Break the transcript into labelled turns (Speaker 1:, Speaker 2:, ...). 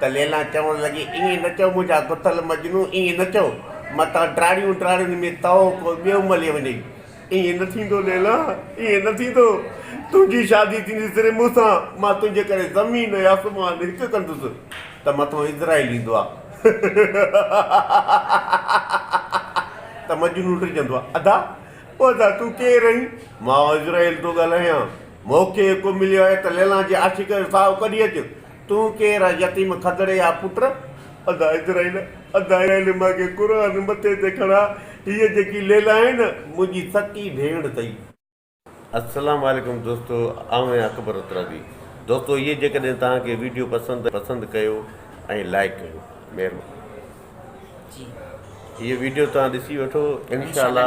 Speaker 1: ته ليلا چوڻ لڳي، ائين نه چئو منهنجا گٿل مجنو، ائين نه چئو، متان ٽراڙيون ٽراڙين ۾ تئو ڪو ٻيو ملي وڃئي. ائين نه ٿيندو ليلا، ائين نه ٿيندو. تنهنجي شادي ٿيندي صرف مون سان. مان تنهنجي ڪري زمين ۽ آسمان هڪ ڪندس ته مٿو اسرائيل ايندو آ. ته مجنو ڊڄندو آ، ادا، او ادا تون ڪير آهين؟ مان اسرائيل ٿو ڳالهايان. مون کي حڪم مليو آهي ته ليلا جي عاشق جو ساهو ڪڍي اچ. تون ڪير آهين يتيم کدڙي جا پٽ. ادا اسرائيل ادا اسرائيل مان کي قرآن مٿي تي کڻا هيء جيڪي ليلا آهي نه منهنجي سڪي ڀيڻ ٿئي. السلام عليڪم دوستو آئون آهيان اڪبر ترابي دوستو هيء جيڪڏهن توهان کي ويڊيو پسند آهي پسند ڪيو ۽ لائيڪ ڪيو مهرباني هيء ويڊيو
Speaker 2: توهان
Speaker 1: ڏسي وٺو انشاء الله.